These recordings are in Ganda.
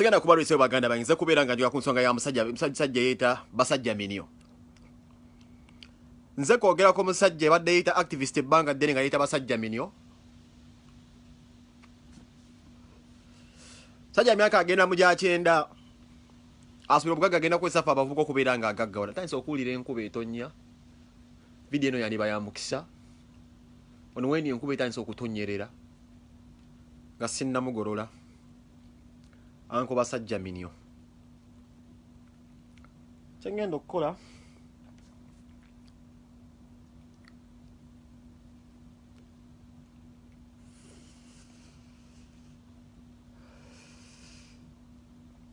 sigenda kubalwisayo baganda bange nze kubeera nga njoga ku nsonga ya musajja yeeta basajja minio nze kwogerako musajja ebadde yeeta activist ebbanga ddene nga yeeta basajja minio sajja myaka agenda mu gyakyenda Asubira obugagga agenda kukozesa ffe abavubuka okubeera nga agaggawala. Ntandise okuwulira enkuba etonnya. Vidiyo eno yandiba ya mukisa. Ono wendi enkuba etandise okutonnyerera nga sinnamugolola. Anko basajja minyo. Kye ngenda okukola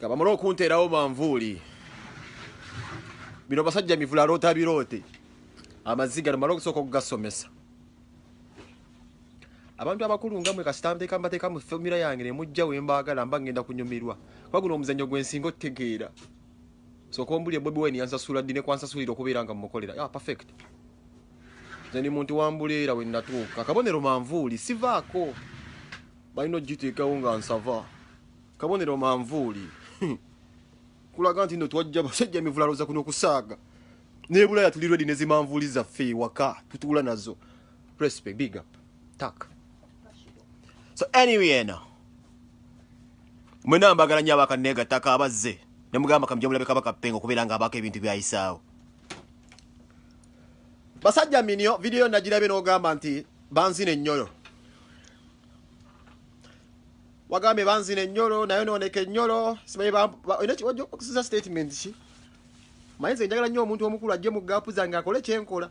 nga bamala okunteerawo manvuuli bino basajja mivula loota biroote amaziga nomala okusooka okugasomesa abantu abakulu nga mwe kasita nteeka mbateeka mu fomula yange ne mujja we mbaagala mba ngenda kunyumirwa kuba guno omuzannyo gwe nsinga otegeera sooka ombulire bobi wine yansasula ddi ne kwansasulira okubeera nga mmukolera ya ah, perfect nze ndi muntu wambuleera we natuuka akabonero manvuuli sivaako balina okugiteekawo nga nsava kabonero manvuuli kulaga nti no twajja basajja mivulaloza kuno okusaaga nebulaya tuli redi nezimanvuuli zaffe ewaka tutuula nazo Respect, big up. Tak. So anyway eno. Mwena mbagala nnyo abakanneega ttaka abazze ne mugamba kamujja mulabe kabaka pengo kubeera nga abaako ebintu byayisaawo. Basajja minio vidiyo nagirabye n'ogamba nti banzina ennyolo. Wagambye banzina ennyolo nayo nooneka ennyolo simanyi baokusiza statement ki? Mayinza enjagala nnyo omuntu omukulu ajje mu gaapu zange akole kyenkola.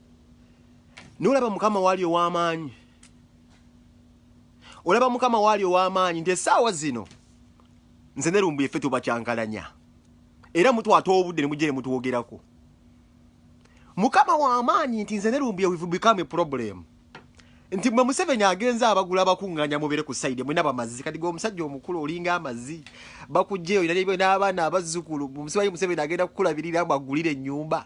nolaba mukama waali ow'amaanyi olaba mukama waali ow'amaanyi nti essaawa zino nze nerumbu yeffe tubakyankalanya era mutwata obudde nemujja ne mutwogerako mukama w'amaanyi nti nze nerumbu yewivu become problem nti mwe museveni agenza abagula bakuŋŋanya mubere ku sayide mwena bamazzi kati gwe omusajja omukulu olinga amazzi bakugjeyo n'abaana abazzukulu musibayi museveni agenda kukulabirira mbu agulire ennyumba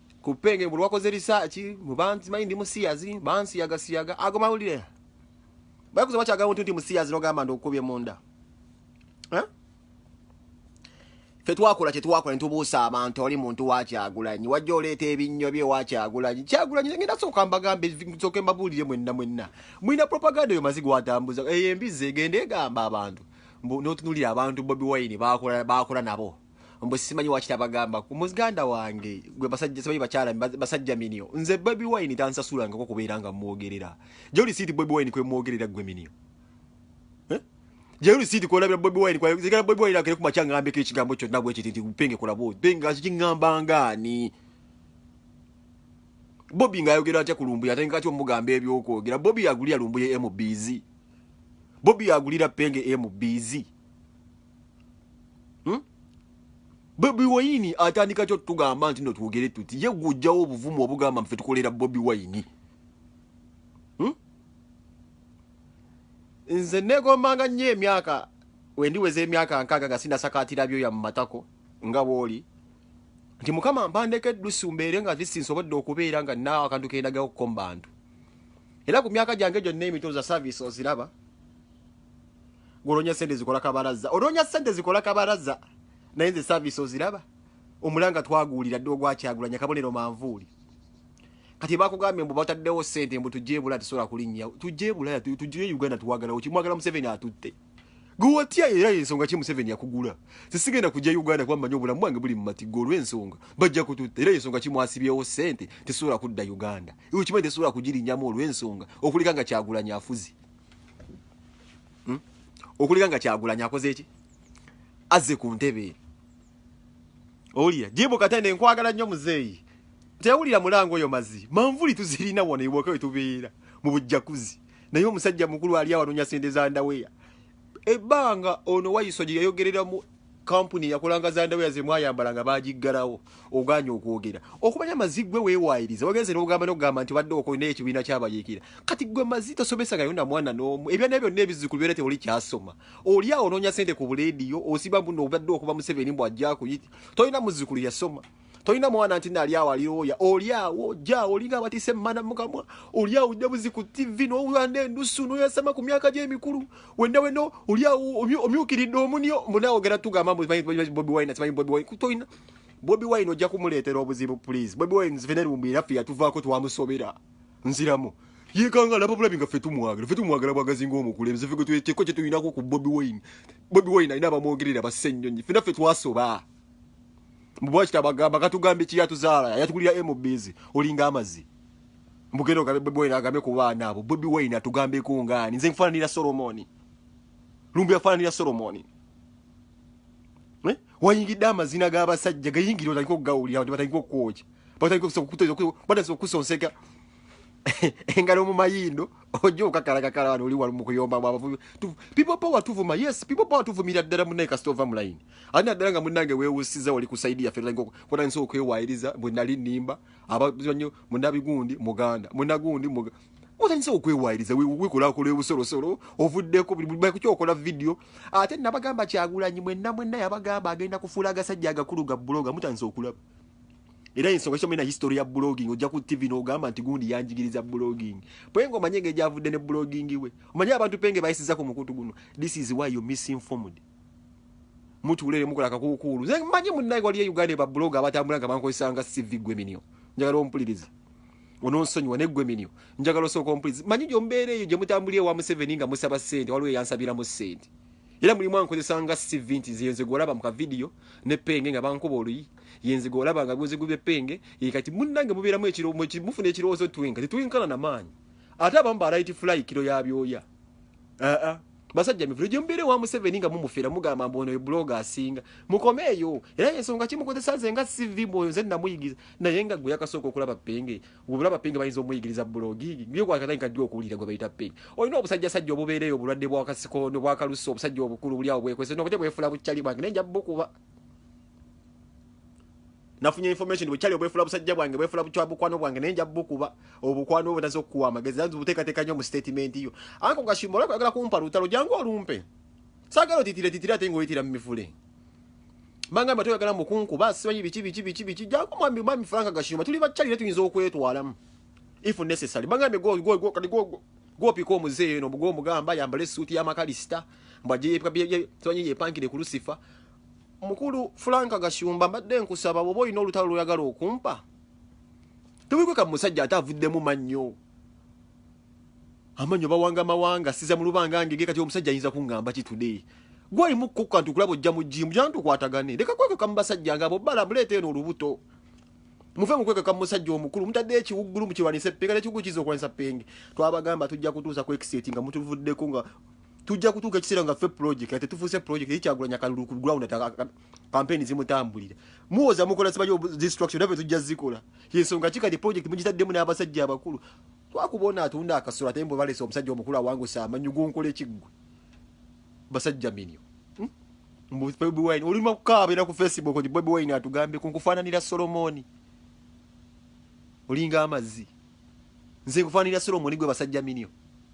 ku penge buli wakoze risaaki mubanzi manyi ndi musiyazi bansiyaga siyaga ago mawulire bakuza bakyaga muntu nti musiyazi nogamba nti okukubye munda fe twakola kyetwakola nitubuusa abantu oli muntu wakyagulanyi wajja oleeta ebinnyo bye wakyagulanyi kyagulanyi ngenda sooka mbagambe sooke mbabuulire mwenna mwenna mulina propaganda eyo mazi gwatambuza eyo embizi egenda egamba abantu notunulira abantu bobi wine bakola nabo mbu simanyi wakita bagamba ku muziganda wange gwe basajja simanyi bakyala basajja minio nze baby wine tansasula ngako kubeera nga mwogerera joli siti baby wine kwe mwogerera gwe minio eh? joli siti kwa labira baby wine kwa zikala baby wine akere kumacha ngambe ke kigambo kyo nagwe kiti nti upenge kula bo benga ziki ngamba ngani Bobby nga yogera atya kulumbuya ate ngati omugambe ebyokwogera Bobby agulira lumbuye MBZ Bobby agulira penge MBZ hmm? bobi wayini atandika kyo tugamba nti no twogere tuti ye gwojjawo obuvumu obugamba mfe tukolera bobi wayini hmm? nze negombanga nnyo emyaka wendiweza emyaka nkaaga nga sinasakaatira byoya mu matako nga bwoli nti mukama mpandeko eddusu mbeere nga lisi nsobodde okubeera nga naawe akantu kendagaokuko mu bantu era ku myaka gyange gyonna emitoza service oziraba Golonya sente zikola kabaraza. Olonya sente zikola kabaraza. Naye nze service oziraba. Omulanga twaguulira dde ogwa kyagulanya kabonero manvuuli. Kati bakugambye mbu bataddewo sente mbu tujje ebula tusobola kulinnya. Tujje ebula tujje Uganda tuwagalawo kimwagala Museveni atutte. Gwewatya era ensonga ki Museveni yakugula. Sisigenda kujja Uganda kuba mmanyi obulamu bwange buli mu matigga olw'ensonga. Bajja kututta era ensonga ki mwasibyewo sente tesobola kudda Uganda. Iwe kimanyi tesobola kugirinyamu olw'ensonga okulika nga kyagulanya afuzi. hmm? okulika nga kyagulanya akoze eki azze ku ntebe owulira jibu katende nkwagala nnyo muzeeyi tewulira mulango oyo mazi manvuli tuzirina wano ewaka wetubeera mu bujjakuzi naye omusajja mukulu ali awanonya sente za ndaweya ebbanga ono wayiso gye yayogereramu kampuni eyakolanga zandaweya zemwayambala nga bagiggalawo oganye okwogera okumanya mazi gwe wewaayiriza wagenze nogamba nogamba nti obadde okolina ekibiina kyabayiikira kati gwe mazi tosomesangayo na mwana n'omu ebyana byonna ebizzukulu byona tewoli kyasoma oli awo onoonya sente ku buleediyo osiba buno obadde okuba museveni mbw ajja kuyita tolina muzzukulu yasoma tolina mwana nti nali awo alioya oli awo ja olinga abatise mana mukamwa oli awo debuzi ku tv nowanda endusu noyasama ku myaka gyemikulu wenda weno oli awo omyukiridde omunio munawogera tugamba bobi wine simanyi bobi wine tolina bobi wine ojja kumuleetera obuzibu please bobi wine nzivenerumbi era ffe yatuvaako twamusobera nziramu yekanga laba bulabi nga ffe tumwagala ffe tumwagala bwagazi ngaomukulembeze ffe gweteko kyetulinako ku bobi wine bobi wine alina abamwogerera basse ennyonyi ffe naffe twasoba mbwa kitabagamba katugambye ki yatuzaala yatugulira MBs olinga amazi mbugenda ogabe Bobi Wine agambe ku baana abo Bobi Wine atugambe ku ngaani nze nfaananira Solomoni lumbu yafaananira Solomoni eh? wayingidde amazina g'abasajja gayingira otandika okugawulira abantu batandika okukwoja batandika okusonseka engalo mu mayindo ojja okakalakakala wano oli mu kuyomba mu abavubi people power tuvuma yes people power tuvumira ddala munaye kasita ova mu layini ani naddala nga munnange weewusiza wali ku saidi yaffe kotandisa okwewaayiriza bwe nali nnimba abazanyo munabigundi muganda munagundi otandisa okwewaayiriza wekolako lwebusolosolo ovuddeko kukyokola vidiyo ate nabagamba kyagulanyi mwenna mwenna yabagamba agenda kufuula agasajja agakulu ga buloga mutandisa okulaba era ensonga kyo mena history ya blogging ojja ku tv n'ogamba nti gundi yanjigiriza blogging penge omanye engeri gyavudde ne blogging we omanye abantu penge bayisiza ku mukutu guno this is why you misinformed mutuulere mukola akakuukuulu nze manyi munnaye waliyo e uganda ba blog abatambula nga bankozesa nga cv gwe minio njagala ompuliriza ononsonyiwa ne gwe minio njagala osooka ompuliriza manyi gyombeera eyo gye mutambulira ewa museveni nga musaba ssente waliwo eyansabiramu ssente era mulimu ankozesa nga cv nti nze nze gwolaba mu kavidiyo ne penge nga bankuba oluyi yenziga olaba nga guziguba epenge ye kati munnange mubeeramu ekiro mufuna ekirowoozo twinka tetuyinkana na maanyi ate abamu ba right fly kiro ya byoya aa basajja mivulo gye mubeere wa museveni nga mumufera mugamba mbu ono ye buloga asinga mukomeeyo era yensonga kimukozesa nze nga sivi mwoyo nze namuyigiza naye nga gwe yakasooka okulaba penge obulaba penge bayinza omuyigiriza bulogi gyekwakatandika ddi okuwulira gwe bayita penge olina obusajja sajja obubeereyo obulwadde bwakasikondo bwakalusa obusajja obukulu buli awo bwekwese nobute bwefula bucali bwange naye nja bukuba nafunye information bwe kyali obwefula busajja bwange bwefula bukya bukwano bwange naye nja bukuba obukwano obwo nazo kuwa amagezi nazo buteekateeka nnyo mu statement yo anko gashimba olaba kwagala kumpa lutalo jangu olumpe sagala otitire titire ate ng'oyitira mu mivule manga mba toyagala mukunkuba simanyi biki biki biki biki jangu mwami mwami franka gashimba tuli bakyali naye tuyinza okwetwalamu if necessary manga mbe go go go kati go go gwopika omuzeeyo eno bugwo omugamba yambala essuuti y'amakarisita mbwajeyebwanye yepangire ku lusifa mukulu franka gashumba mbadde nkusaba bwoba olina olutalo lwoyagala okumpa tewikweka musajja ate avuddemu mannyo amanyo bawanga mawanga siza mulubanga ngege kati omusajja ayinza kungamba ki today gwali mukukka nti kulabo jja mujimu jantu kwatagane leka kweka kamusajja ngabo bala bulete eno lubuto muve mukweka kamusajja omukulu mutadde ekiwuggulu mukirwanise pega ne kigukizo kwanisa penge twabagamba tujja kutuusa ku exit nga mutuvudde ko nga tujja kutuuka ekiseera nga ffe project ate tufuuse project eri kyagulanya kalulu ku ground ata kampeni zimutambulira muwoza mukola sibayo destruction nabe tujja zikola yensonga ki kati project mugitaddemu n'abasajja abakulu twakubona atunda akasolo ate mbu balese omusajja omukulu awangusa amanyi gunkola ekiggwe basajja minyo hmm? mbu bobi wine olima kukaaba era ku facebook nti bobi wine atugambye kunkufaananira solomoni olinga amazzi nze nkufaananira solomoni gwe basajja minyo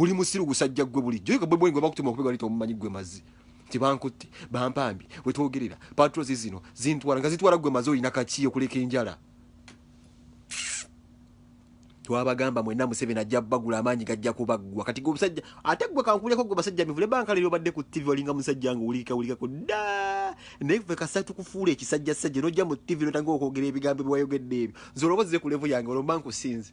Oli musiru gusajja gwe bulijjo yeka bwe bwengo bakutuma okubega lito omumanyi gwe mazi nti bankutte bampambi wetwogerera patrols zino zintwala nga zitwala gwe mazi olina kakiyo kuleka enjala twabagamba mwena museveni ajja bagula amaanyi gajja kubaggwa kati gwe omusajja ate gwe kankuleko gwe basajja mivule banka lero badde ku tv olinga musajja nga owulirika wulikako da naye fe kasatu kufuula ekisajja sajja nojja mu tv notanga okwogera ebigambo ebiwayogedde ebyo nze olowozze ku levu yange olomba nkusinze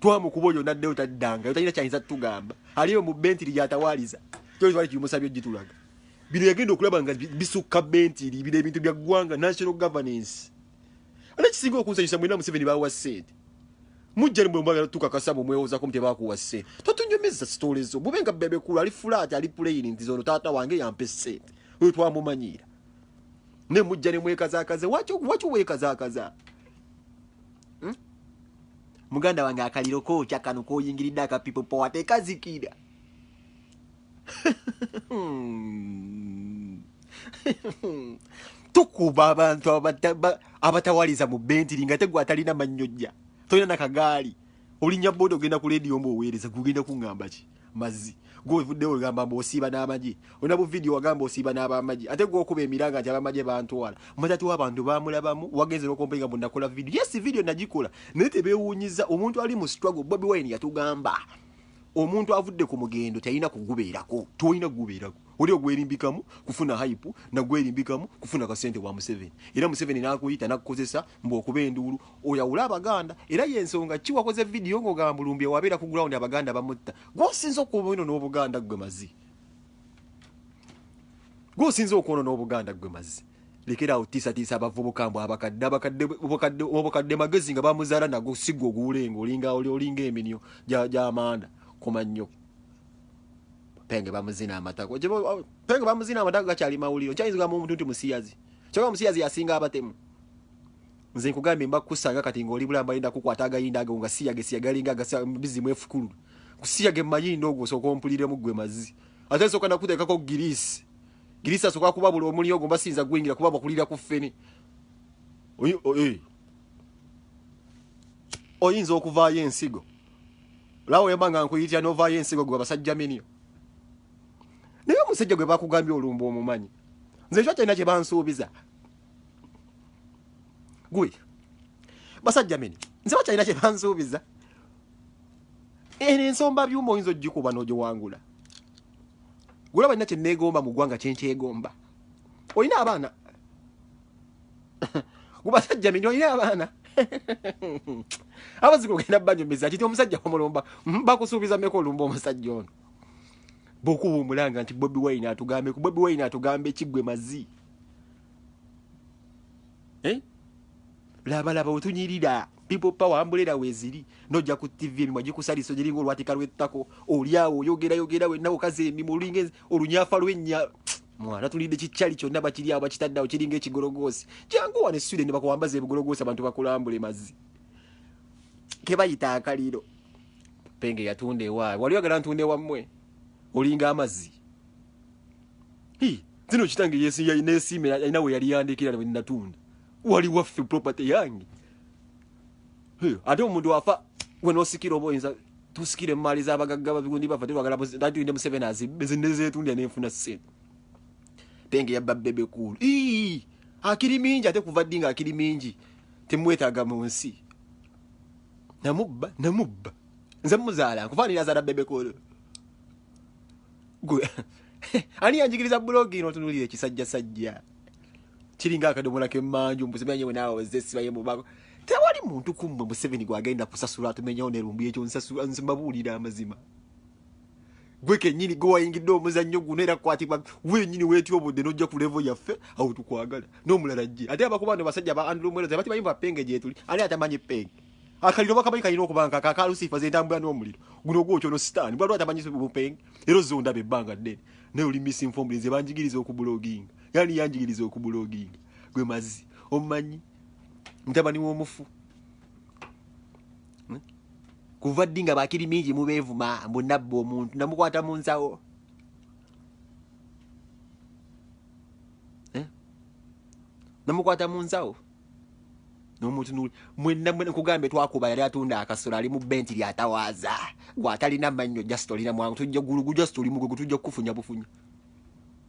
twamukuba oyo naddeyo taddangayo talina kyayinza tugamba aliyo mu bentiri gyatawaaliza kyolitwali kimusabye ogitulaga bino yagenda okulaba nga bisukka bentiri bino ebintu bya ggwanga national governance ate kisinga okunsanyusa mwena museveni bawa ssente mujja nimwe mwagala tukakasa mwe mwewozako mu tebakuwa ssente totunyumiza sitole zo bube nga bebekulu ali fulaati ali puleyini nti zono taata wange yampa essente oyo twamumanyiira ne mujja ne mwekazakaze waki wekazakaza hmm? muganda wange akaliro kookya kano koyingiridde aka people power tekazikira tukuba abantu abatawaliza mu bentiri nga tegwe atalina mannyojja tolina nakagaali olinya boda ogenda ku lediyo mbu oweereza gugenda kuŋŋamba ki mazzi gwe ovuddewo ogamba mbu osiiba n'amagye olina bu vidiyo wagamba osiiba n'abamagye ate gwe okuba emiranga nti abamagye bantwala mazati w'abantu bamulabamu wagenze n'okompeyinga mbu nakola vidiyo yes vidiyo nagikola naye tebeewuunyiza omuntu ali mu struggle bobi wine yatugamba omuntu avudde ku mugendo teyalina kugubeerako tolina kugubeerako Oli ogwerimbikamu kufuna hype na gwerimbikamu kufuna kasente wa Museveni. Era Museveni n'akuyita n'akukozesa mbu okuba enduulu oyawule Abaganda. Era y'ensonga kki wakoze vidiyo ng'ogamba Lumbuye wabeera ku ground Abaganda bamutta. Gw'osinze okwonoona Obuganda ggwe mazi. Gw'osinze okwonoona Obuganda ggwe mazi. Lekera awo tiisatiisa abavubuka mbu abakadde abakadde obukadde obukadde magezi nga bamuzaala nago si gwe oguwulenga olinga olinga eminyo gy'amanda koma nnyo. penge bamuzina amatako oh, penge bamuzina amatako gakyali mawuliro nkyayinza kugamba omuntu nti musiyazi kyoka musiyazi yasinga abatemu nze nkugambye mba kukusanga kati ng'oli bulamba yinda kukwata agayinda ago nga siyage siyagalinga bizimu efukulu kusiyage mayinda ogwo osooka ompuliremu gwe mazi ate nsooka nakuteekako girisi girisi asooka kuba buli omuli ogwo mba siyinza gwingira kuba bakulira ku ffene oyinza okuvaayo ensigo lawo yamba nga nkuyitira novaayo ensigo gwe abasajja minio naye omusajja gwe bakugambye olumba omumanyi nze ekyo kyalina kye bansuubiza gwe basajja mini nze bakyalina kye bansuubiza eno ensomba byuma oyinza ogikuba n'ogiwangula gulaba nina kye neegomba mu ggwanga kyenkyegomba olina abaana gubasajja mini olina abaana abazika ogenda banyumiza kiti omusajja omulumba bakusuubiza meka olumba omusajja ono bwokuba omulanga nti bobi wine atugambe ku bobi wine atugambe ekigwe mazi eh? labalaba wetunyirira people power ambulera weziri nojja ku tv emimwa gikusaliso giringa olwatika lwettako olyawo oyogera yogera wenna okaza emimwa olunyafa lwennya mwana tulidde kikyali kyonna bakiri awo bakitaddeawo kiringa ekigologoosi jangu wane swire ne bakuwambaza ebigologoosi abantu bakulambule mazzi kebayita akaliro penge yatunda ewaawe wali wagala ntunda ewammwe olinga amazzi zino kitange yesiyainesiima alina we yali yandikira wenatunda wali waffe property yange ate omuntu wafa wenosikira oba oyinza tusikira emaali zabagagga babigundi bafa tebagala tulinde museveni azibbe zinezetundira nenfuna sente tenge yabba bebe kuulu akiri mingi ate kuva ddi nga akiri mingi temwetaaga mu nsi namubba namubba nze muzaala nkufaanira azaala bebe kuulu gwe ani yanjigiriza bulogi ino otunulira ekisajjasajja kiringa akadomola kemanju mbuzimanyi mwe naawe wezze esiba yemubako tewali muntu kummwe museveni gwagenda kusasula atumenyawo nerumbu ekyo nsimabuulira amazima gwe kenyini gwe wayingidde omuzannyo guno era kukwatibwa wenyini wetya obudde nojja ku levo yaffe awo tukwagala n'omulala jje ate abakuba no basajja ba andrew mwero tebati bayimba penge gyetuli ani atamanyi penge akaliro bakamanyi kalina okubanga kakalusifa zentambula n'omuliro guno ogwokyono sitaani bwaliwo atamanyi bupenge era ozonda bebbanga ddene naye oli misinfombulinze banjigiriza okubuloginga yani yanjigiriza okubuloginga gwe mazi omumanyi mutabani w'omufu hmm? kuva ddi nga bakiri mingi mubeevuma mbu nabba omuntu namukwata mu nsawo eh? namukwata mu nsawo nomutunuli mwenna mwena kugambye twakuba yali atunda akasolo ali mu benti lyatawaaza gwatalina mannyo just olina mwangu tujja gulugu just oli mugugu tujja kukufunya bufunya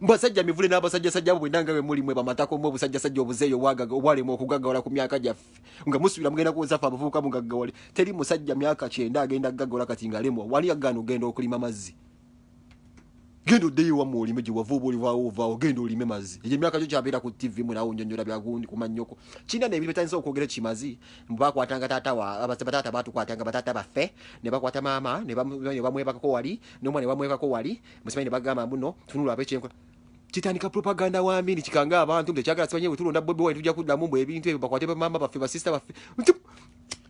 mbasajja mivule n'abasajjasajja bwe nange bwe muli mwe bamatako mwe obusajjasajja obuzeeyo obwagaga obwalema okugaggawala ku myaka gyaffe nga musubira mugenda kuwozesa ffe abavubuka mugaggawale teri musajja myaka kyenda agenda kugaggawala kati ngalemwa wali agaana ogenda okulima mazzi genda oddeyo wamwe olime gye wava oba olivaawo ovaawo genda olime mazzi egyo emyaka gyo kyabeera ku ttivi mwe nawo nyonyola byagundi ku mannyoko kirina ne ebintu bitandisa okwogera kimazi bakwatanga taata bataata baatukwatanga bataata baffe ne bakwata maama ne bamwebakako wali n'omwana ne bamwebakako wali musimanyi nebagamba mbuno tunula abe kyenkwa kitandika propaganda wa mini kikanga abantu mbe kyagala simanyi wetulonda bobi wine tujja kuddamu mbu ebintu ebyo bakwate bamama baffe basista baffe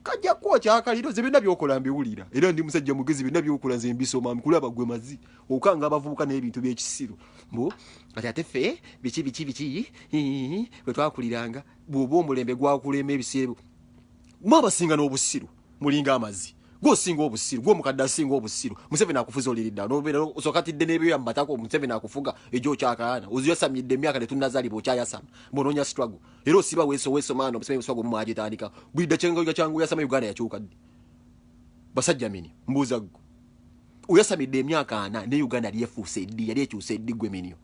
kajja kuwa kyakaliro ze byonna byokola mbiwulira era ndi musajja mugezi byonna byokola nze mbisoma nkulaba gwe mazi okanga abavubuka n'ebintu by'ekisiru mbu kati ate ffe biki biki biki bwe twakuliranga bw'oba omulembe gwakulema ebiseera mwe abasinga n'obusiru mulinga amazi gwe osinga obusiru gwe omukadde asinga obusiru museveni akufuza oliridda nobeera osokatidde n'ebyoya mu matako museveni akufuga egyo okyakaana oziyasamidde emyaka tetunnazalibwa okyayasama mbonoonya struggle era osiba wesowesomaano museveni struggle mumwagitandika bulidda kyengoja kyangu yasama uganda yakyuka ddi basajja mini mbuuza ggwe oyasamidde emyaka ana ne uganda yali efuuse eddi yali ekyusa eddi gwe minio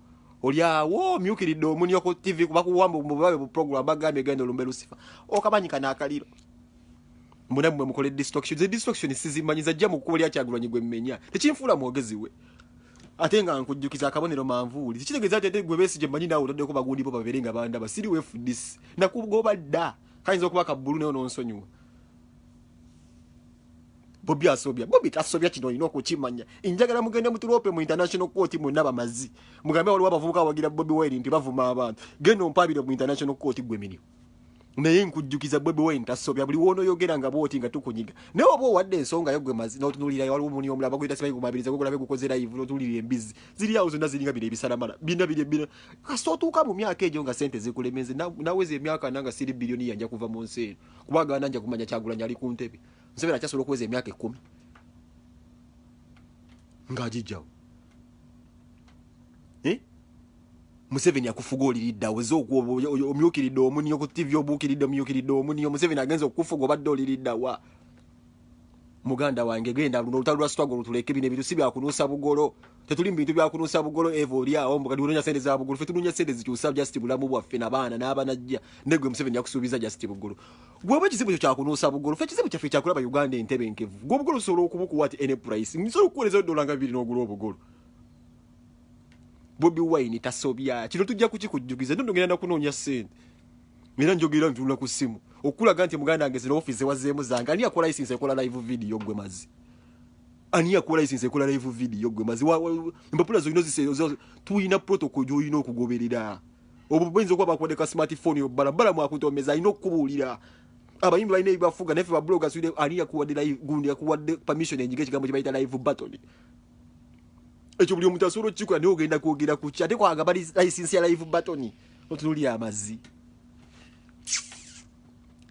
olyawo omyukiridde omunio ku tv kubakuwamba omubabe bu program bagambye genda olumbe lusifa okamanyi kanaakaliro munamwe mukole distraction ze distraction sizimanyi zajja mu kkubo lya kyagulanyi gwe mmenya tekinfuula mwogezi we ate nga nkujjukiza akabonero manvuuli tekitegeeza ati ate gwe besigye manyi naawe otaddeko bagundi bo babeere nga bandaba siri wefudisi nakugoba dda kayinza okuba kabbulu naye ononsonyiwa bobi asobya bobi tasobya kino olina okukimanya enjagala mugende mutulope mu international court mwena bamazi mugambe waliwo abavubuka awagira bobi wire nti bavuma abantu genda ompabire mu international court gwe mirimu naye nkujjukiza bobi wine tasobya buli wonoyogera nga bwoti nga tukunyiga naye oba owadde ensonga yo gwe mazi notunulira waliwo omuni omulaba guyita simanyi gumabiriza gogulabe gukoze live notunulira embizzi ziri awo zonna ziringa bino ebisalamala bina biri bina kasita otuuka mu myaka egyo nga sente zikulemenze naweza emyaka nanga siri biliyoni yanja kuva mu nsi eno kuba agana nja kumanya kyagulanya ali ku ntebe nsebera kyasobola okuweza emyaka ekkumi ng'agijjawo Museveni akufuga olilidda aweze omyukiridde omuniyo ku TV obuukiridde omyukiridde omuniyo Museveni agenze okukufuga obadde olilidda wa muganda wange genda luno olutalo lwa struggle tuleke bino ebintu si byakunuusa bugolo tetuli mu bintu byakunuusa bugolo eva oli awo mbu kati unoonya sente za bugolo fe tunoonya sente zikyusa just bulamu bwaffe nabaana n'abanajja ne gwe museveni yakusuubiza just bugolo gwe oba ekizibu kyo kyakunuusa bugolo fe ekizibu kyaffe kyakulaba uganda entebe enkevu gwe obugolo osobola okubukuwa ti any price nsobola okukuweereza dola nga bibiri n'ogula obugolo bobi wine tasobya kino tujja kukikujjukiza ndondo ngenda nakunoonya sente era njogera ntunula ku ssimu okulaga nti muganda wange zino ofiisi zewazeemu zange ani yakola isinsi ekola live video gwe mazi ani yakola isinsi ekola live video gwe mazi empapula zolina ozisee tulina protocol gyolina okugoberera obwo buyinza okuba bakuwadde ka smartphone yobbala bala mwakutomeza alina okukubuulira abayimbi balina ebibafuga naye fe babuloga ani yakuwadde gundi yakuwadde permission enyiga ekigambo kyebayita live button ekyo buli omuntu asobola okukikola naye ogenda kwogera ku ki ate kwagaba license ya live batoni otunuli amazi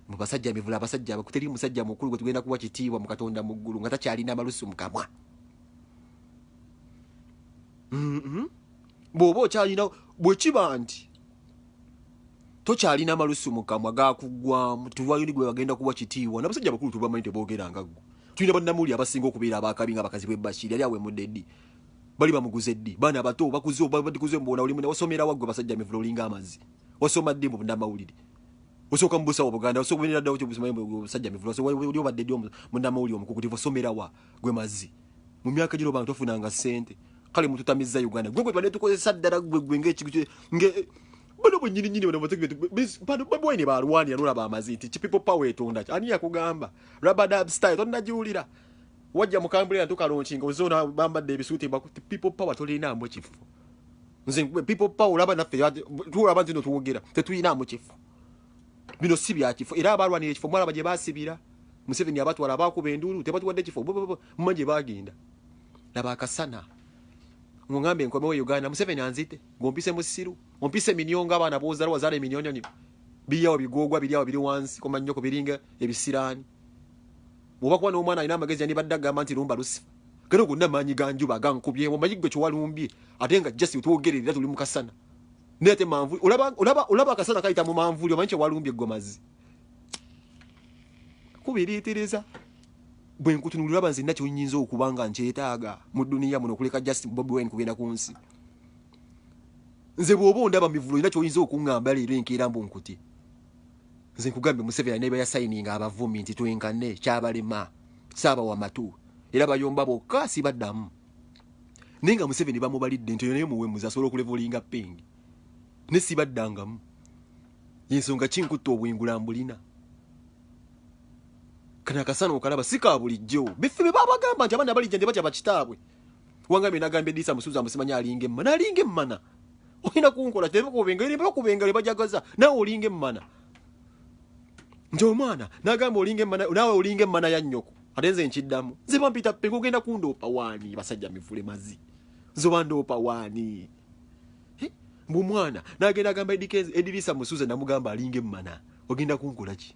mu basajja mivula abasajja abakuteri musajja mukulu gwe tugenda kuwa kitiibwa mu katonda mu ggulu nga takyalina amalusu mu kamwa mm-hmm. bw'oba okyalina bwe kiba nti tokyalina malusu mukamwa gakuggwamu tewayoni gwe bagenda kuwa kitiibwa nabasajja bakulu tubamanyi teboogera nga ggwe tulina bannamuli abasinga okubeera abakabi nga bakazi bwe bashiri yali awemudde ddi bali bamuguze ddi baana abato bakuze obabadikuze mubona oli mune wasomera waggwe basajja mivula olinga amazzi wasoma ddi mu bannamawulire osooka mu busawo buganda osobola ddawo kyo busajja mivula so oli obadde ddi munnamawulire omukukutivu osomera wa gwe mazi mu myaka gino bantu bafunanga sente kale mututamizza uganda gwe gwe tubadde tukozesa ddala gwe gwe ngaekigu nge bano bwenyini nyini bano bategbetubaboyi ne balwanira nolaba amazi nti ki people power etonda ki ani yakugamba rabadab style tonnagiwulira wajja mukambulira ntukalonkinga ozona bambadde ebisuuti bakuti people power tolinaamu kifo nze people power olaba naffe tulaba nti no tuwogera tetuyinaamu kifo bino si byakifo era abalwanira ekifo mwalaba gye basibira museveni abatwala abakuba enduulu tebatuwadde kifo muma gye bagenda laba akasana ng'oŋamba enkomewo e uganda museveni anzite ng'ompise musiru ompise eminyo nga abaana bozala wazala eminyonyonyo biriawo bigogwa biriawo biri wansi komanyoko biringa ebisiraani bwoba kuba n'omwana alina amagezi yandibadde agamba nti lumba lusifa kale ogonna amaanyi ganjuba agankubyewo omanyi gwe kyewalumbye ate nga jasi otwogerera tuli mukasana naye te manvuli olaba olaba olaba akasana kayita mu manvuli omanyi kyewalumbye ggomazi kubiriitiriza bwe nkutunulira aba nze nna kyonyinza okuba nga nkyetaaga mu duniya muno okuleka just bobi wine kugenda ku nsi nze bw'oba ondaba mivulo olina kyoyinza okuŋŋamba leero enkeera mbu nkutye nze nkugambye museveni alina ebayasayininga abavumi nti twenkane kyabalema saaba wamatu era bayomba bokka sibaddamu naye nga museveni bamubalidde nti naye muwemuzi asobola okulevolinga ping ne sibaddangamu yensonga kinkutta obwengula mbulina kana akasana okalaba si ka bulijjo biffe be babagamba nti abaana balijja nti batya bakitaabwe wangambe nagambye diisa musuuza musimanya alinga emmana alinga emmana olina kunkola tebakubengalibakubengali bajagaza nawe olinga emmana nti omwana nagamba olinga emmana nawe olinga emmana ya nnyoko ate nze nkiddamu nze bampita penge ogenda kundoopa waani basajja mivule mazi nze oba ndoopa waani mbu mwana nagenda agamba edirisa musuza namugamba alinga emmana ogenda kunkola ki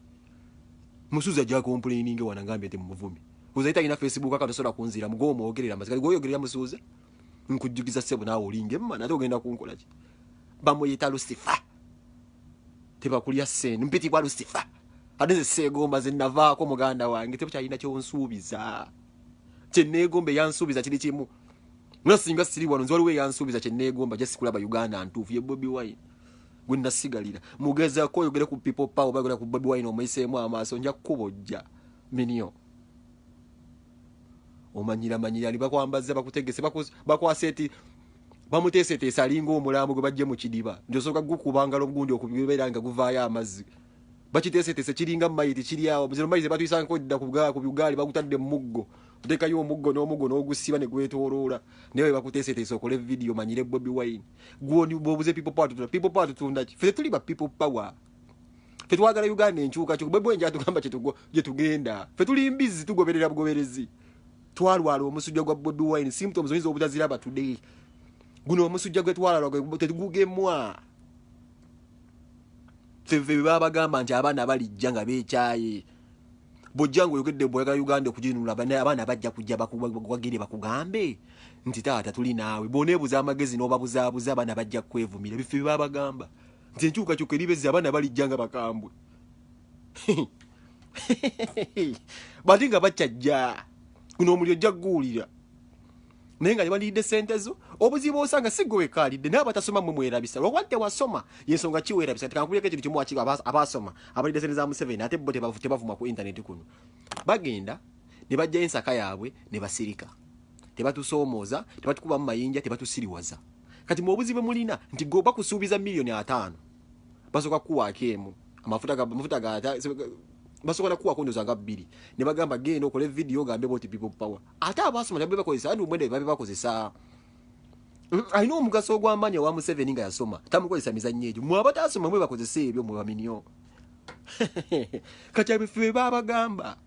musuza ajja complaininge wana ngambye nti mumuvumi ozaita alina facebook aka tosobola kunzira mugowo mwogerera mazika goyogerera musuza nkujjukiza ssebo naawe olinga emmana ate ogenda kunkola ki bamuyita lusifa tebakulya sente mpitibwa lusifa ate nze seegomba ze navaako muganda wange tebukyalina kyonsuubiza kyeneegomba eyansuubiza kiri kimu nga singa siri wano nze waliwo eyansuubiza kyeneegomba ja sikulaba uganda ntuufu ye bobi wine gwe nasigalira mugezako oyogere ku people power oba yogera ku bobi wine omuyiseemu amaaso nja kukubojja minio omanyira manyira ni bakwambaza bakutegese bakwasa eti bamuteeseteese alinga omulambo gwe bajje mu kidiba nti osooka gukuba ngalo ogundi okubeera nga guvaayo amazzi bakiteeseteese kiringa mayiti kiri awo zino mayiti zebatuyisangako dda ku bugaali bagutadde mu muggo otekayo omuggo n'omuggo n'ogusiba ne gwetooloola naye we bakuteeseteese okole vidiyo manyire bobi wine gwoni bwobuze people power tutunda people power tutunda ki ffe tetuli ba people power ffe twagala uganda enkyukakyuka bwe bwenja atugamba gye tugenda ffe tuli mbizi tugoberera bugoberezi twalwala omusujja gwa bobi wine symptoms oyinza obutaziraba today guno omusujja gwe twalwala tegugemwa feve bebabagamba nti abaana balijja nga bekyaye bwojja nga oyogedde bweyagala uganda okuginunula abaana bajja kujja bakuwagire bakugambe nti taata tuli naawe boneebuza amagezi n'obabuzaabuza abaana bajja kwevumira ebifo byebabagamba nti enkyukakyuka eribezza abaana balijja nga bakambwe bati nga bakyajja guno omuli ojja kuguwulira naye nga nebalidde sente zo obuzibu osanga sigwe wekalidde naye abatasoma mwe mwerabisa lwakuba tewasoma yensonga kiwerabisa tikankubirako ekintu kimu wakiba abasoma abalidde sente za museveni ate bo tebavuma ku intaneti kuno bagenda ne bajjayo ensaka yaabwe ne basirika tebatusoomooza tebatukubamu mayinja tebatusiriwaza kati mwe obuzibu mulina nti goba kusuubiza miliyoni ataano basoka kuwaako emu amafuta ga amafuta ga basoka na kuwaako ndoza nga bbiri ne bagamba genda okole video gambe boti people power ate abasoma nabyo bakozesa andi omwenda babe bakozesa mm, alina omugaso ogw'amaanyi owa museveni nga yasoma tamukozesa mizannyo egyo mwe abatasoma mwe bakozesa ebyo mwe baminyo kati abife babagamba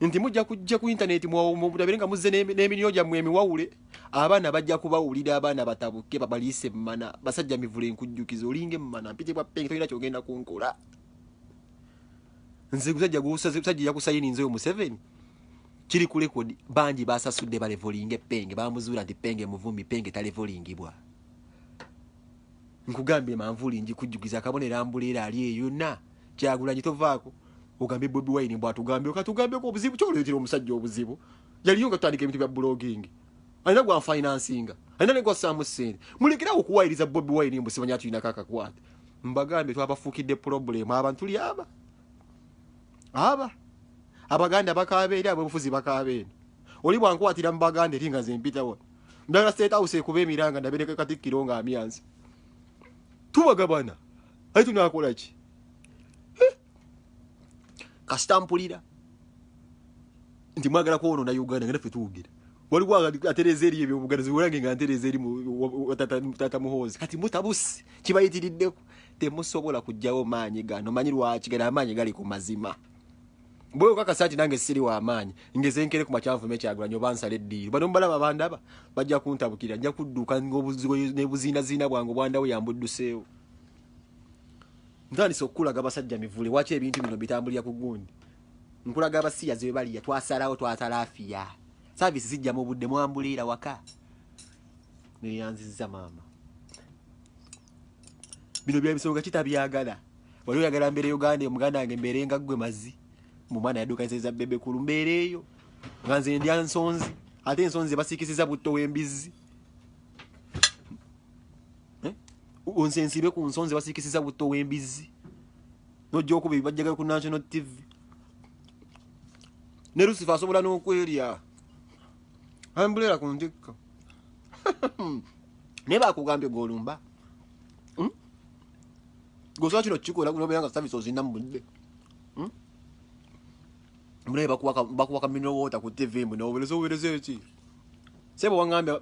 nti mujja kujja ku intaneti mutabire nga muzze n'emiriyo gyammwe emiwawule abaana bajja kubawulira abaana batabuke babaliise emmana basajja mivule enkujjukiza olinga emmana mpitibwa penge tolina kyogenda kunkola nze gusajja gusajja yakusayininzeyo museveni kiri ku rekodi bangi basasudde balevolinga epenge bamuzuula nti penge muvumi penge talevolingibwa nkugambye manvuuli njikujjukiza akabonera mbuleera ali eyonna kyagulanyi tovaako ogambye bobi wine bwatugambye katugambeko obuzibu kyoleetera omusajja obuzibu yaliyo nga tutandika ebintu bya blogging alina gwa financinga alina ne gwasaamu ssente mulekerawo okuwayiriza bobi wine mbu simanya tulinako akakwate mbagambye twabafuukidde problemu abantu tuli aba aba abaganda bakaaba eri ab'obufuzi bakaaba eno oli bwankwatira mu baganda eri nga zempitawo ndala state house ekuba emiranga ndabereka katikkiro nga amyanzi tubagabana ayi tunakolaki eh. kasita mpulira nti mwagala kwonona uganda nga naffe tuwugira waliwo atereza eri ebyobuganzi olange nga ntereza eri tata muhoozi kati mutabusi kibayitiriddeko temusobola kujjawo maanyi gano manyi lwaki gano amaanyi gali ku mazima bwewe kakasa nti nange siri wa maanyi ngezenkere ku makyanvume kyagulanyo bansala eddiiro bano mubalaba bandaba bajja kuntabukira nja kudduka nebuziinaziina bwange obwandawo yambudduseewo ntandise okukulaga basajja mivule waki ebintu bino bitambulira ku gundi nkulaga abasiyazi we baliya twasalawo twatalafiya saavisi zijja mu budde mwambuliira waka neyanziza maama bino byabisonga kitabyagala wali oyagala mbeera euganda omuganda wange mbeere nga ggwe mazi mu mwana yadukanisaiza bebe kulu mbeera eyo nga nze ndya nsonzi ate ensonzi zebasiikisiza butto w'embizzi eh? nze nsibe ku nsonzi basikisiza butto w'embizzi nojja okuba ebibajjagayo ku national tv ne lusifa asobola n'okwerya ambulera ku ntikka naye bakugambye golumba hmm? gosobola kino kukikola nobeera nga savisi ozina mu budde hmm? mulabe bakuwaka mineral water ku tv mbu nobubereza obubereza eki sebo wangambye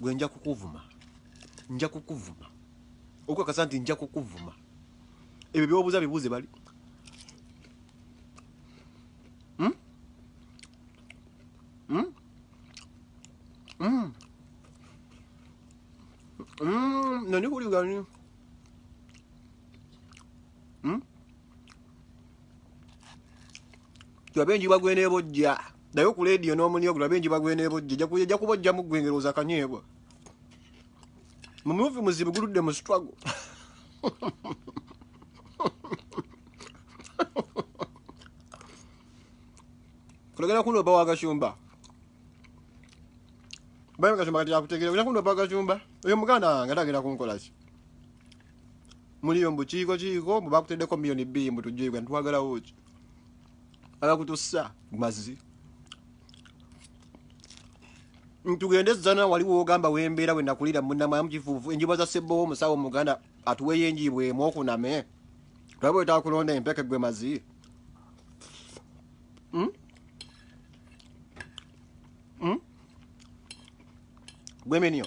gwe nja kukuvuma nja kukuvuma okukakasa nti nja kukuvuma ebyo byobuuza bibuuze bali hmm? Hmm? Hmm? nani kuligani hmm? tulabe enjuba gwenebojja naye ku lediyo n'omunyogo tulabe enjuba gwenebojja ejja kubojjamu gwengerooza akanyeebwa mumuvi muzibu guludde mu struggle kulagala kuno oba wagashumba bayo gashumba kati yakutegera kuno oba gashumba oyo muganda wange atagenda kunkolaki muliyo mbu kiiko kiiko mbu bakuteddeko miyoni bbiri mbu tujjuyigwa ntitwagalawo ki abakutussa mazi ntugende zana wali wogamba wembeera wenakulira munamayamu kifuufu enjuba za sebbowa omusawo muganda atuweyo enjiibwa emu okuname olaba wetakulonda empeke gwe mazi hmm? Hmm? gweminio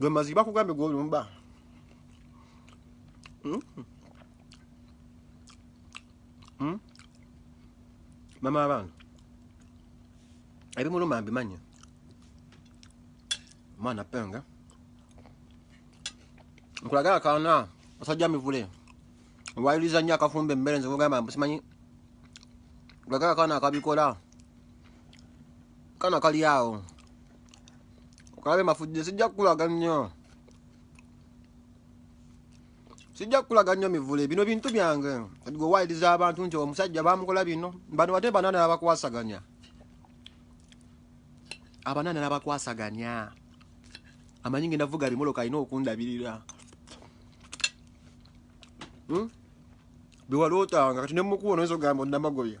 gwe maziki bakugambye gwolumba hmm? hmm? mama abaana ebimuluma mbimanyi mwana penga nkulaga akaana asajja mivule wayuliza nnyo akafumba emmere nze kugamba mbu simanyi nkulaga akaana akabikola kana kali awo kulabe mafujje sijja kukulaga nnyo sijja kukulaga nnyo mivule bino bintu byange gwe wayiriza abantu nti omusajja bamukola bino bano bate banana nabakwasaganya abanana nabakwasaganya amanyi ngenda vuga bimoloka alina okundabirira hmm? biwalootanga kati nemukuwa noyinza ogamba onamagoya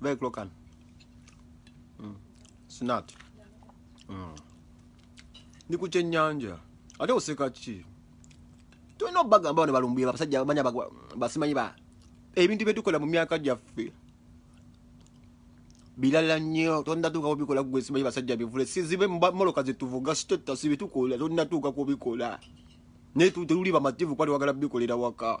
Very close can. Mm. Snat. Mm. Ndi ku kyennyanja. Ate oseka ki? Tulina obbaga ambao ne balumbuye abasajja abamanya basimanyi ba ebintu bye tukola mu myaka gyaffe. Bilala nnyo tonna tuuka kubikola gwe simanyi basajja bivule sizibe moloka ze tuvuga sitetta sibi tukola tonna tuuka kubikola. Naye tuli bamativu kwali wagala bikolera waka.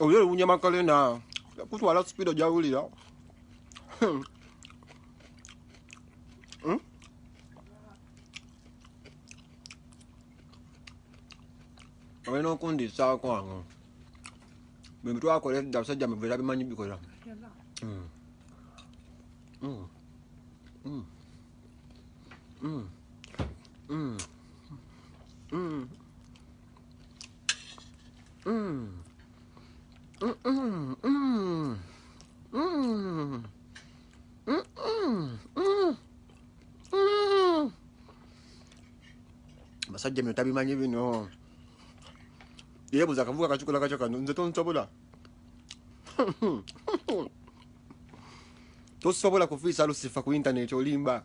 oyo ewunya makalena kutwala speed ojawulira hmm. hmm? olina okundisaako ano bwe bitwakola edda basajja mubeera bimanyi bikola hmm. Mm. Mm. Mm. Mm. Mm. Mm. Mm -mm, mm. Mm. Mm -mm, mm. Mm. basajja mino tabimanyi bino yebuza akavuga kacukula kaco kano nze tonsobola tosobola kufiisa lusifa ku intaneti olimba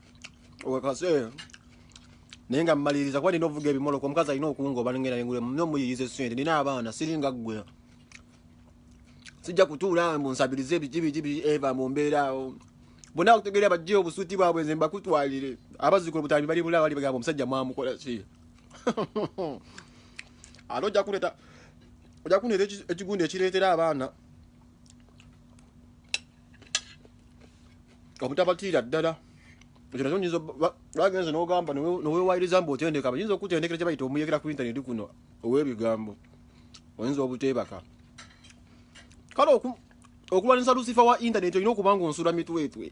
wekase naye nga mmaliriza kuba nina ovuga ebimoloko omukazi alina okungoba ngenda nengulemu nina omuyiyiza esente nina abaana siringa ggwe sijja kutuula mbu nsabirize biki biki biki eva mu mbeera awo bonna bakutegeera bajje obusuuti bwabwe nze mbakutwalire abazikula obutambi bali bula bali bagamba omusajja mwamukola ki ate ojja kuleeta ojja kuneeta ekigundi ekireetera abaana obutabatiira ddala ekyo nakyo nyinza bagenze n'ogamba newewayiriza mbu otendeka bayinza okutendekera kye bayita omuyekera ku intaneti kuno ow'ebigambo oyinza obuteebaka kale okulwanyisa lusifa wa intaneti olina okuba nga onsula mitwetwe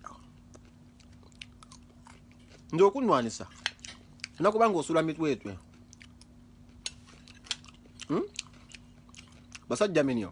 nti okunwanisa olina kuba nga osula mitwetwe hmm? basajja minyo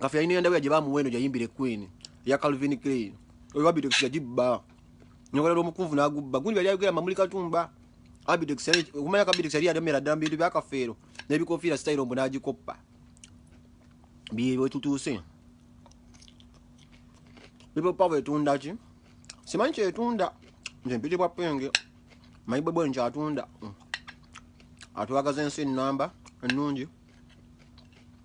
kafe yalina endabira gye bamuwa eno gyayimbire queen eya calvin clain oyo abitex yagibba nyokolera omukunvu n'agubba gundi yali ayogera mamuli katumba abitex okumanya kabitex yali yademera ddala mu bintu bya kafeero n'ebikofiira sitayiro mbu n'agikoppa byebwe tutuuse people power etunda ki simanyi kyetunda nze mpiti bwa penge manyi bwebwe nkyatunda mm. atwagaza ensi ennamba ennungi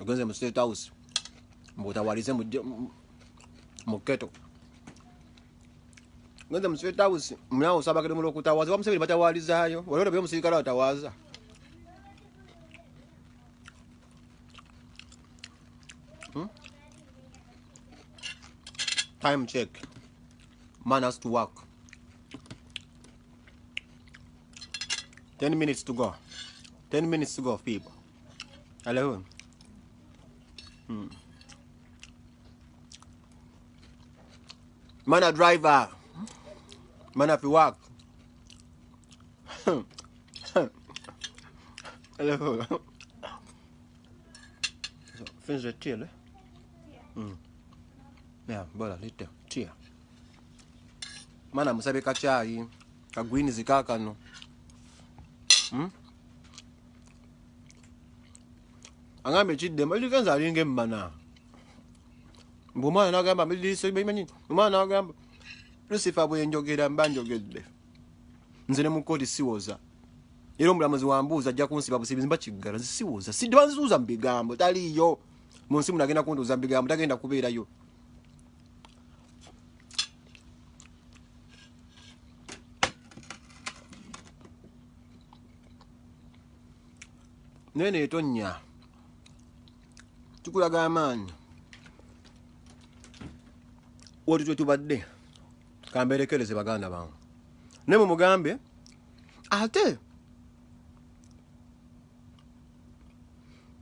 ogenze mu state house mbutawalize mu keto ogenze mu state house munawo osabakire mu lwokutawaza oba museveni batawalizaayo olwero bye omusirikale atawaaza hmm? time check man has to work 10 minutes to go 10 minutes to go people Hello. Hmm. Man a driver. Man a fi work. Hello. so, finns det till? Mm. Yeah, bara lite te. Mana musabe ka chai, ka greens kakano. Mm? agamba ekiddemu ekigenza alinga emmana mbu omwana nagamba mdmanyi omwana nagamba lusifa bwenjogera mba njogedde nze ne mukooti siwoza era omulamuzi wambuuza ajja kunsiba busibizi mba kiggala nze siwoza sidibanzuuza mu bigambo taliiyo mu nsi muno agenda kuntuuza mu bigambo tagenda kubeerayo naye netonnya kikulaga amaanyi woti twetubadde kamberekereze baganda bange naye mumugambe ate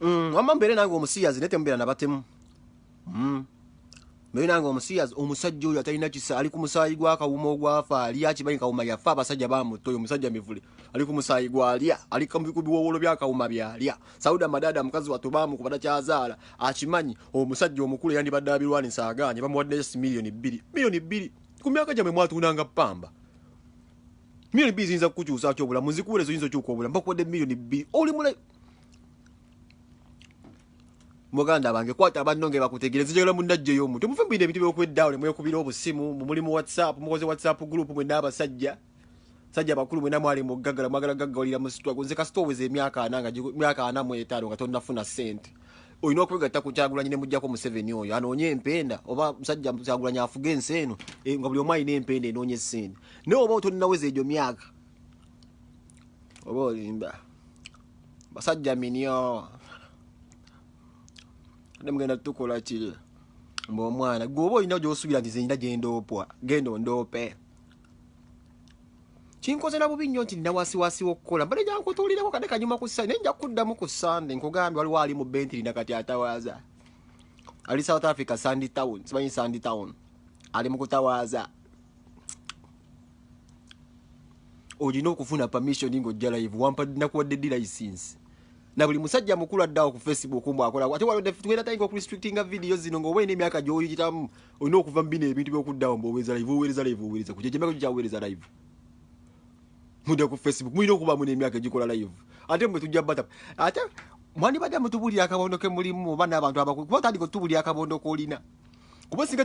mm, wamma mbeere nange omusiyazi naye temubeera nabatemu Hmm. naye nange omusiyazi omusajja oyo atalina kisa ali ku musaayi gwa kawuma ogwafa ali akimanyi kawuma yafa abasajja bamutta oyo omusajja mivule ali ku musaayi gwalya ali ku biwowolo bya kawuma byalya sauda madada mukazi watu bamu kubata kyazaala akimanyi omusajja omukulu eyandibadde abirwanisa agaanye bamuwadde just miliyoni bbiri miliyoni bbiri ku myaka gyamwe mwatundanga pamba miliyoni bbiri ziyinza kukukyusa ki obulamu nzikuwulezo yinza okyuka obulamu bakuwadde miliyoni bbiri oli mulayi muganda bange kwata abanno nge bakutegere zijagala munnajjeyo omu temuve mubino ebintu byokweddawo nemwekubira obusimu mumuli mu whatsapp mukoze whatsapp group mwe n'abasajja sajja bakulu mwena mwali muggagala mwagala gaggawalira musitwa gonze kasita oweza emyaka ana nga myaka ana mu etaano nga tonnafuna ssente olina okwegatta ku kyagulanyi ne mujjako museveni oyo anoonye empenda oba musajja kyagulanyi afuga ensi eno eh, nga buli omu alina empenda enoonya essente naye oba otonnaweza egyo myaka oba olimba basajja minyo ne mugenda tukola kiri mba omwana gwe oba olina gyosubira nti zenyina gyendoopwa genda ondoope kinkozera bubi nnyo nti nawasiwasiwa okukola mbade gyankutulireko kade kanyuma ku sande naye nja kuddamu ku sande nkugambye waliwo ali mu bentiri nakati atawaaza ali south africa sandy town simanyi sandy town ali mu kutawaaza olina okufuna permission ng'ojja live nakuwadde ddi license na buli musajja mukulu addawo ku facebook mbu akola ate walotugenda tayinga okurestrictinga vidiyo zino ngaoba olina emyaka gyoyitamu olina okuva mu bino ebintu byokuddawo mbuowereza live owereza live owereza ku kyekyo emyaka gyo live mudde ku facebook mulina okubamu n'emyaka egikola live ate mwe tujja bata ate mwandibadde mutubulira akabondo ke mulimu oba n'abantu abakulu kuba tandika otubulira akabondo kolina kuba singa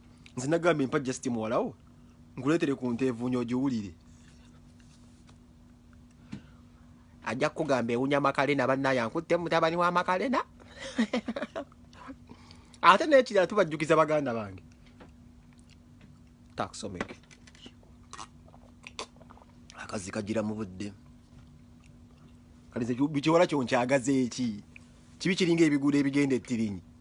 nze nagambye mpa just muwalawo nkuleetere ku nteevuunya ogiwulire ajja kukugamba ewunya makalena bannaye ankutte mutabani wa makalena ate nekirala tubajjukiza baganda bange taksomeke akazi kagira mu budde kalize bikiwala kyonkyagaza eki kibi kiringa ebiguudo ebigenda ettirinyi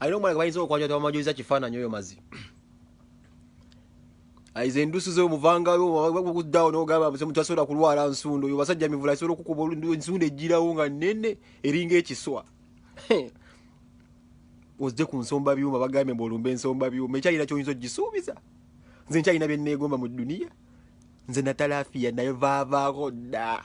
alina omwana gwebayinza okwanja tebamajuliza kifaananyi oyo mazi aiza endusu zo muvangayo okuddawo nogamba tasobola kulwala nsundo oyo basajja mivula asobola okukuba ensundo ejjirawo nga nene eringa ekiswa ozze ku nsomba byuma bagambye mbu olumba ensomba byuma ekyalina kyoyinza ogisuubiza nze nkyalina byenneegomba mu duniya nze natalafiya naye vaavaako dda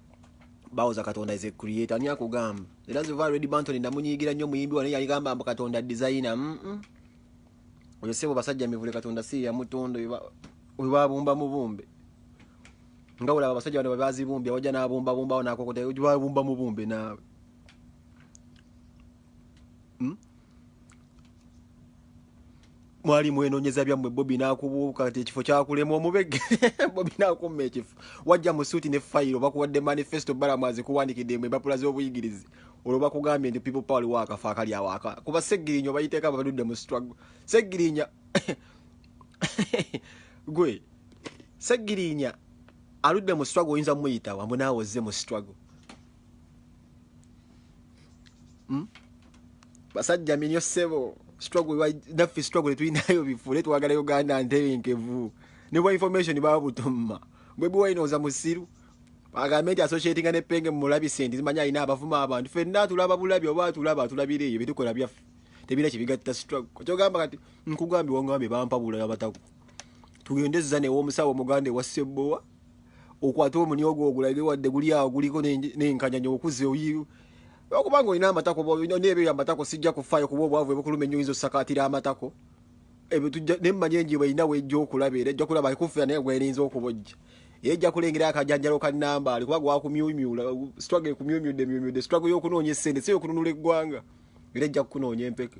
bawoza katonda is a creator ani akugamba era nze va red banton ndamunyigira nnyo muyimbi wane yaligamba mbu katonda designer mm -mm. oyo sebo basajja mivule katonda si yamutonda webabumba mubumbe nga olaba abasajja bano bebazibumbi awajja nabumbabumbawo nakokota webabumba mubumbe naawe hmm? mwali mwenonyeza byammwe bobi nakubuuka ti ekifo kyakulema omubege bobi nakumma ekifo wajja mu suuti ne fayiro bakuwadde manifesto balamu azikuwandikidde mwe empapula z'obuyigirizi olwo bakugambye nti people power liwo akafa akali awaka kuba segirinya obayiteeka babadudde mu struggle segirinya gwe segirinya aludde mu struggle oyinza muyitawa mbu naawe ozze mu struggle Hmm? basajja minyo sebo naffe struggle tulinayo bifule twagala uganda ntebenkevu ne bwa information babutumma bwebi wainooza musiru agambe nti associatinga ne penge mumulabise nti zimanya alina abavuma abantu fenna tulaba bulabi oba atulaba atulabira ebyo byetukola byaffe tebira kyebigatta struggle kyogamba kati nkugambye wangambye bampabula abatako tugende zza newomusawo omuganda ewa sebbowa okwate omuni ogwo ogulabe wadde guli awo guliko n'enkanyanya okuze oyiru okubanga olina amatako n'ebyo amatako sijja kufaayo kuba obwavu ebukuluma ennyo oyinza osakaatira amatako ebyo tujja ne mmanyi enjiba erina wejja okulaba era ejja kulaba ekuffira naye gwerinza okubojja era ejja kulengera akajanjalo ka nambaali kuba gwakumyumyula struggle ekumyumyudde myumyudde struggle y'okunoonya essente si y'okununula eggwanga era ejja kukunoonya empeke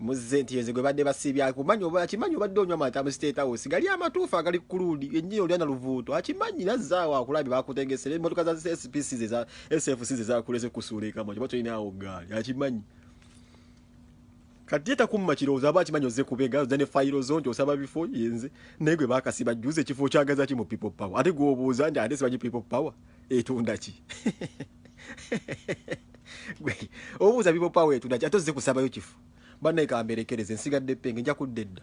muzze nti yenze gwe badde basiibye akumanyi oba akimanyi obadde onywa amata mu state house gali amatuufu agali ku luudi ennyini olya na luvuuto akimanyi nazzaawo akulabye bakutegesera emmotoka za spc ze za sfc ze zakuleze kusuula ekamwa kiba tolina awo gaali akimanyi kati etakumma kirowoozo aba akimanyi ozze kubega ozza ne fayiro zo nti osaba bifo yenze naye gwe bakasiba jjuza ekifo okyagaza ki mu people power ate gwobuuza nti ate sibanyi people power etunda ki obuuza bibo pawa etuna ate ozze kusabayo kifu banaye kamberekereze nsigadde penge nja kudda edda